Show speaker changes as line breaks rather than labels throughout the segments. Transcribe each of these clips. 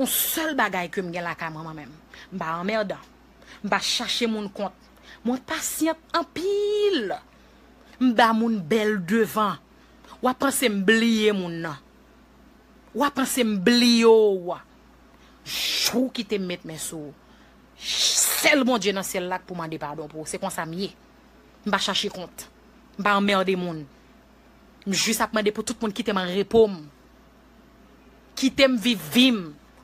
On sèl bagay ke m gen lakay mwen mwen menm, m pa anmèdan, m pa chache moun kont, mwen pasyant anpil, m ba moun bèl devan, wa panse m bliye moun nan, wa panse m bliye w, jou w kite m met men sou w, sèl Bondye nan syèl la k pou mande padon pou w, se konsa m ye, m pa chache kont, m pa anmède moun, m jis ap mande pou tout moun kite m an repo m. Kitem viv vim.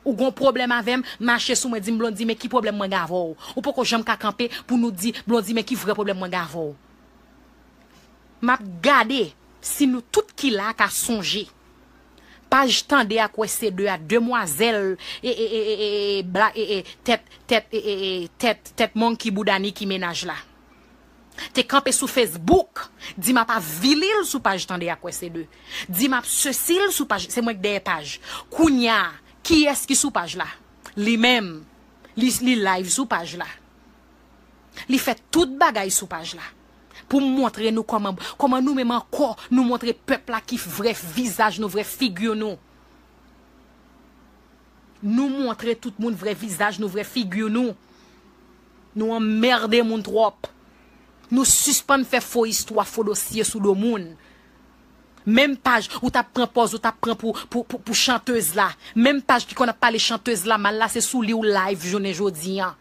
Ou gon pwoblèm avèm, mache sou mwen dim Blondy men ki pwoblèm mwen gen avèw. Ou poko janm ka kanpe pou nou di Blondy men ki vrè pwoblèm mwen gen avèw. Map gade si nou tout ki la ka sonje paj tande ak wè se 2 a demwazèl tèt tèt tèt tèt monkey bouda Niki menaj la. te kanpe sou Facebook di map avili l sou paj tande ak wè se de di map sesi l sou paj se mwen k dèyè paj kounya kiyès ki sou paj la li menm li li live sou paj la li fè tout bagay sou paj la pou m montre nou kòman kòman nou menm ankò nou montre pèp la ki vrè vizaj nou vrè figi nou. Nou montre tout moun vrè vizaj nou vrè figure nou Nou anmerde moun trop Nou sispann fè fo istwa fo dosye sou do moun Menm paj ou tap pran pòz ou tap pran pou chanteuse la Menm paj ki konn ap pale chanteuse la mal la se sou li ou live jounen jodi an.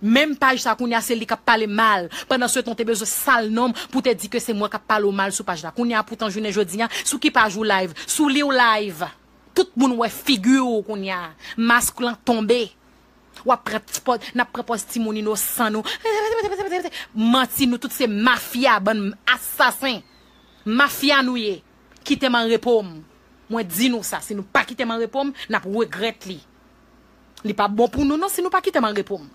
Menm paj sa kounya se li kap pale mal pandan se tan w te bezwen sal nonm pou te di ke se mwen kap pale w mal sou paj la kounya poutan jounen jodi a sou ki paj ou live sou li w live tout moun wè figi w kounya mask lan tonbe wap pran ti pòz nap pran pòz ti moun inosan nou manti nou tout se mafya bann asasen mafya nou ye kite m anrepo m mwen di nou sa si nou pa kite m anrepo m nap regrèt li. Li pap bon pou nou non si nou pa kitem an repom.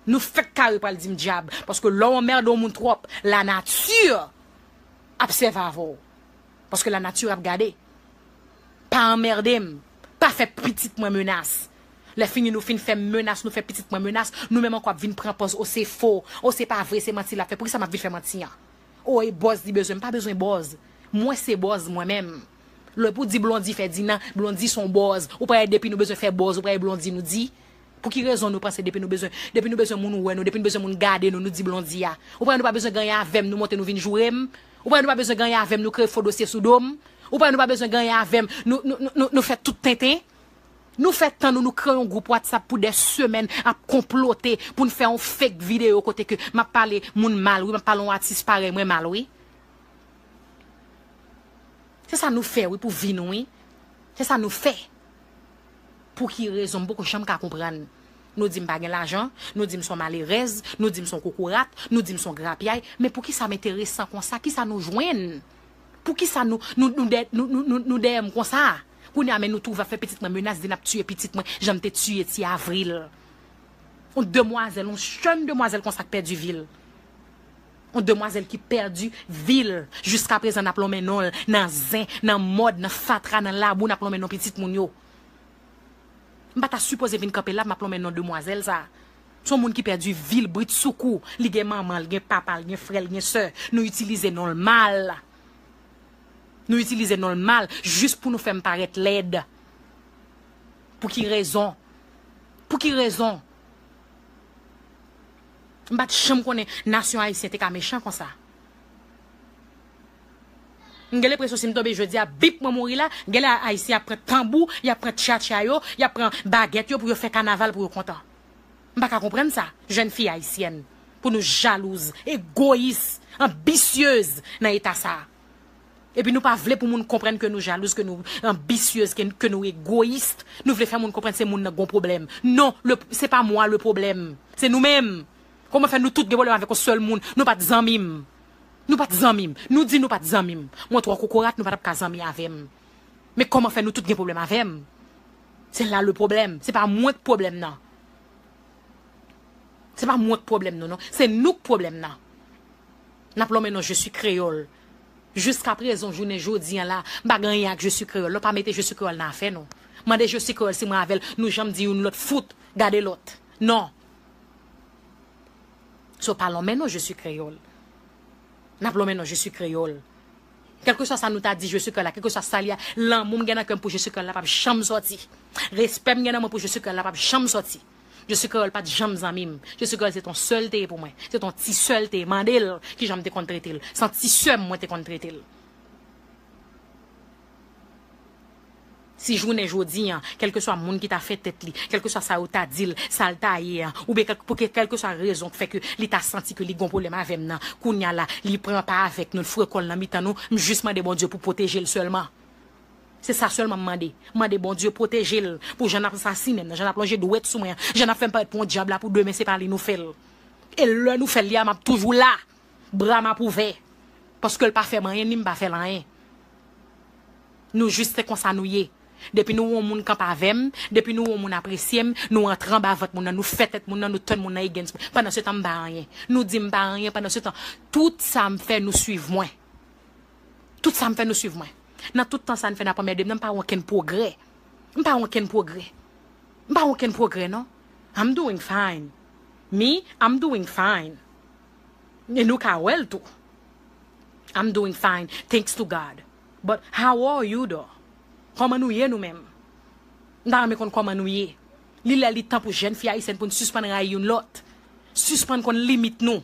Nou fek kare pral dim dyab paske lè w anmerde yon moun twop la nature ap sève avè w. Paske la nature ap gade. Pa anmerde m, pa fè pitit mwen menas. Lè fini nou fin fè m menas, nou fè pitit mwen menas, nou menm anko ap vin pran pòz o se fo, o se pa vre se manti lap fè. Poukisa map vin fè manti an? O e bòz li bezwen, m pa bezwen bòz. Mwen se bòz mwen menm. Lè pou di blondy fè dina blondy son bòz ou pa wè depi nou bezwen fè bòz ou pa wè blondy nou di pou ki rezon nou panse depi nou bezwen depi nou bezwen moun wè nou depi nou bezwen moun gade nou nou di blondy a ou pa wè nou pa bezwen gen anyen avèm nou monte nou vin jourem ou pa wè nou pa bezwen gen anyen avèm nou kreye fo dosye sou dom ou pa wè nou pa bezwen gen anyen avèm nou nou nou nou fè tout tenten nou fè tan nou nou kreye yon gwoup whatsapp pou dè semèn ap konplote poun fè yon fake video kote ke map pale moun mal wi map pale yon atis parèy mwen mal wi. Se sa nou fè wi pou vi nou wi. Se sa nou fè. Pou ki rezon m poko janm ka konprann. Nou di m pa gen lajan, nou di m son malerèz, nou di m son kokorat, nou di m son grapyay, men pou ki sa m enteresan konsa, ki sa nou jwenn? Pou ki sa nou nou nou dè nou nou nou nou dèyè m konsa? Kounye a men nou twouve ap fè pitit mwen menas di n ap tiye pitit mwen jan n te tiye ti Avril. On demwazèl, on jèn demwazèl konsa k pèdi vi l. On demwazèl ki pèdi vi l jiskaprezan n ap lonmen non l nan zen, nan mòd, nan fatra, nan labou n ap lonmen non pitit moun yo. M pa ta sipoze vin kanpe la m ap lonmen non demwazèl sa. S on moun ki pèdi vi l britsoukou. Li gen manman l, gen papa l, gen frè l, gen sè. Nou itilize non l mal. Nou itilize non l mal jis pou nou fè m parèt lèd. Pou ki rezon? Pou ki rezon? M pa t janm konnen nasyon ayisyen te ka mechan konsa. M gen lepresyon si m tonbe jodi a, bip mwen mouri la, gen lè ayisyen ap pran tanbou, y ap pran tchatcha yo, y ap pran bagèt yo pou yo fè kanaval pou yo kontan. M pa ka konprann sa, jèn fi ayisyèn, pou nou jalouz, egoyis, anbisyez nan eta sa a. Epi nou pa vle pou moun konprann ke nou jalouz, ke nou anbisyez, ke nou egoyis. Nou vle fè moun konprann se moun nan ki gon pwoblèm. Non, se pa mwa le pwoblèm. Se nou menm. Kouman fè nou tout gen pwoblèm avèk yon sèl moun. Nou pat zanmi m. Nou pat zanmi m. Nou di nou pat zanmi m. Mwen twò kokorat, nou pa tap ka zanmi avè m. Men kouman fè nou tout gen pwoblèm avè m. Se la le pwoblèm. Se pa mwen ki pwoblèm nan. Se pa mwen ki pwoblèm nou non. Se nou ki pwoblèm nan. N ap lonmen non Je suis Kreyòl. Jiska prezon jounen jodi an la, m pa gen anyen ak Je suis Kreyòl non. Pa mete Je suis Kreyòl nan afè nou. Mande Je suis Kreyòl si mwen avè l nou janm di youn lòt fout gade lòt. Non. So pa lonmen non Je suis Kreyòl. N ap lonmen non Je suis Kreyòl. Kèlkeswa sa nou ta di Je suis Kreyòl la, kèlkeswa sa li a, lanmou m gen nan kè m pou Je suis Kreyòl la p ap janm sòti. Respè m gen nan mwen pou Je suis Kreyòl la p ap janm sòti. Je suis Créole pat janm zanmi m. Je suis Créole se t on sè l te ye pou mwen. Se t on ti sè l te ye. Mande l ki jan m te konn trete l. Se an ti sè m mwen te konn trete l. Si jounen jodi an, kèlkeswa moun ki ta fè tèt li, kèlkeswa sa yo ta di l, sa l ta ye an, oubyen kèlk, pou ke kèlkeswa rezon k fè ke li ta santi ke li gen on pwoblèm avè m nan, kounye a la, li pran pa avèk nou, l frekon l nan mitan nou, m jis mande Bondye pou pwoteje l sèlman. Se sa sèlman m mande. M mande Bondye pwoteje l pou jan n ap asasinen m nan, jan n ap lonje dwèt sou mwen an, jan n ap fè m parèt pou yon dyab la pou demen se pa li nou fè l. E lè nou fè l li a m ap toujou la, bra m ap ouvè. Paske l pa fè m anyen ni m pa fè l anyen. Nou jis se konsa nou ye. Depi nou wè yon moun kanpe avè m, depi nou wè yon moun apresye m, nou antre anba vant moun nan, nou fè tèt moun nan, nou tann moun nan against mwen. Pandansetan m pa anyen. Nou di m pa anyen, pandansetan tout sa m fè nou suiv mwen. Tout sa m fè nou swiv mwen. Nan tout tan sa n fè n ap anmède m nan m pa wè okenn pwogrè. M pa wè okenn pwogrè. M pa wè okenn pwogrè non. I'm doing fine. Me, I'm doing fine. E nou ka wè l tou. I'm doing fine, thanks to God. But how are you though? Kòman nou ye nou menm? M ta renmen konn kòman nou ye. Li lè li tan pou jèn fi ayisyèn pou n sispann rayi youn lòt. Sispann konn limit nou.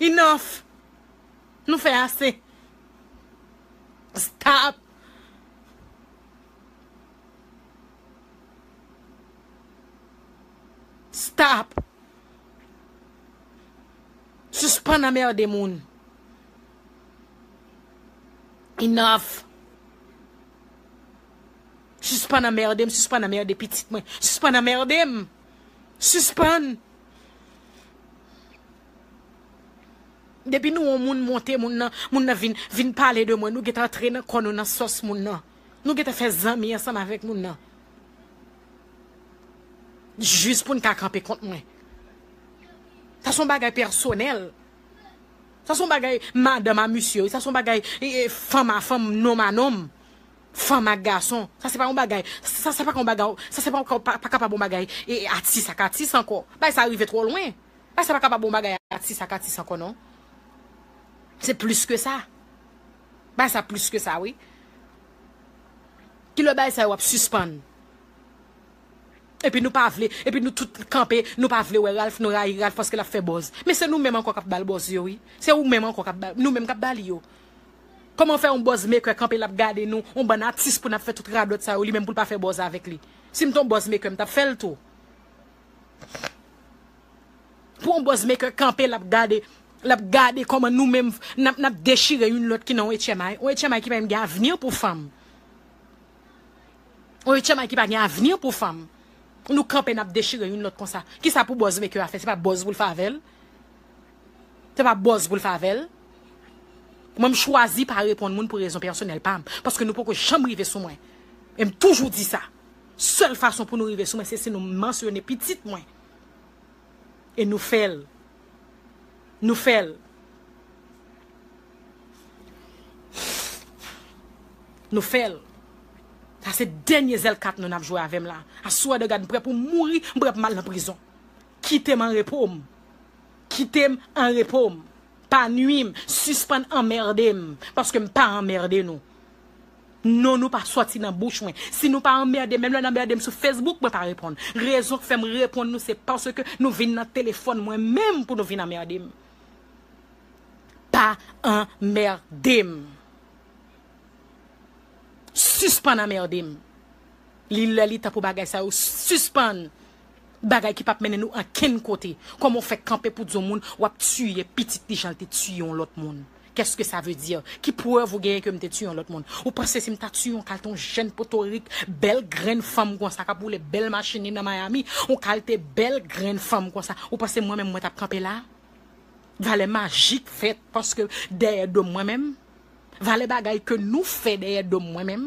Enough! Nou fè ase! Stop! Stop! Sispann anmerde moun! Enough! Sispann anmerde m, sispann anmerde pitit mwen, sispann anmerde m! Sispann! Depi nou on moun monte moun nan, moun nan vin vin pale de mwen, nou gentan antre nan kò nou nan sòs moun nan. Nou gentan fè zanmi ansanm avèk moun nan. Jis pou n ka kanpe kont mwen. Sa son bagay pèsonèl. Sa son bagay madanm a misye, sa son bagay fanm a fanm, nonm a nonm. Fanm ak gason, sa se pa yon bagay, sa se pa ka yon bagay, sa se pa kapab yon bagay atis ak atis ankò. Bagay sa rive twò lwen. Bagay sa pa kapab yon bagay atis ak atis ankò non. Se plis ke sa. Bagay sa plis ke sa wi. Ki lè bagay sa yo ap sispann? Epi nou pa vle, epi nou tout kanpe, nou pa vle wè Ralph, nou rayi Ralph paske l ap fè bòz. Men se nou menm ankò k ap ba l bòz yo wi. Se ou menm ankò k ap ba, nou menm k ap ba li yo. Koman fè yon buzz maker kanpe lap gade nou, yon bann atis pou nap fè tout radòt sa yo li menm poul pa fè buzz avèk li. Sim t yon buzz maker mtap fèl tou. Pou yon buzz maker kanpe lap gade, lap gade koman nou menm nap nap dechire youn lòt ki nan yon HMI, yon HMI ki pa menm gen avni pou fanm. Yon HMI ki pa gen avni pou fanm. Nou kanpe nap dechire youn lòt konsa. Kisa pou buzz maker a fè, se pa buzz poul fè avèl. Se pa bòz pou l fave l. Mwen m chwazi pa reponn moun pou rezon pèsonèl pa m. Paske nou poko janm rive sou mwen. E m toujou di sa. Sèl fason pou nou rive sou mwen se si nou mansyone pitit mwen. E nou fè l. Nou fè l. Nou fè l. Sa se dènye zèl kat nou n ap jwe avè m la. Aswè de gad m prè pou m mouri, m prè pou m al nan prizon. Kite m an repo m. Kite m an repo m. Pa nwi m. Sispann anmerde m. Paske m pa anmerde nou. Non nou pa sòti nan bouch mwen. Si nou pa anmerde m, menm lè n anmerde m sou Facebook, mwen pa reponn. Rezon k fè m reponn nou se paske nou vin nan telefòn mwen menm pou nou vin anmerde m. Pa anmerde m. Sispann anmerde m. Li lè li tan pou bagay sa yo sispann. Bagay ki pap mennen nou ankenn kote. Koman w fè kanpe pou di yon moun w ap tiye pitit li jan l te tiye yon lòt moun? Qu'est-ce que ça veut dire? Ki prèv ou genyen ke m te tiye yon lòt moun? Ou panse si m ta tiye yon kalte yon jèn potorik, bèl grenn fanm konsa k ap woule bèl machin li nan Miami, yon kalte bèl grenn fanm konsa, ou panse mwen menm mwen t ap kanpe la? Valè majik fèt paske dèyè do m mwen menm? Valè bagay ke nou fè dèyè do m mwen menm?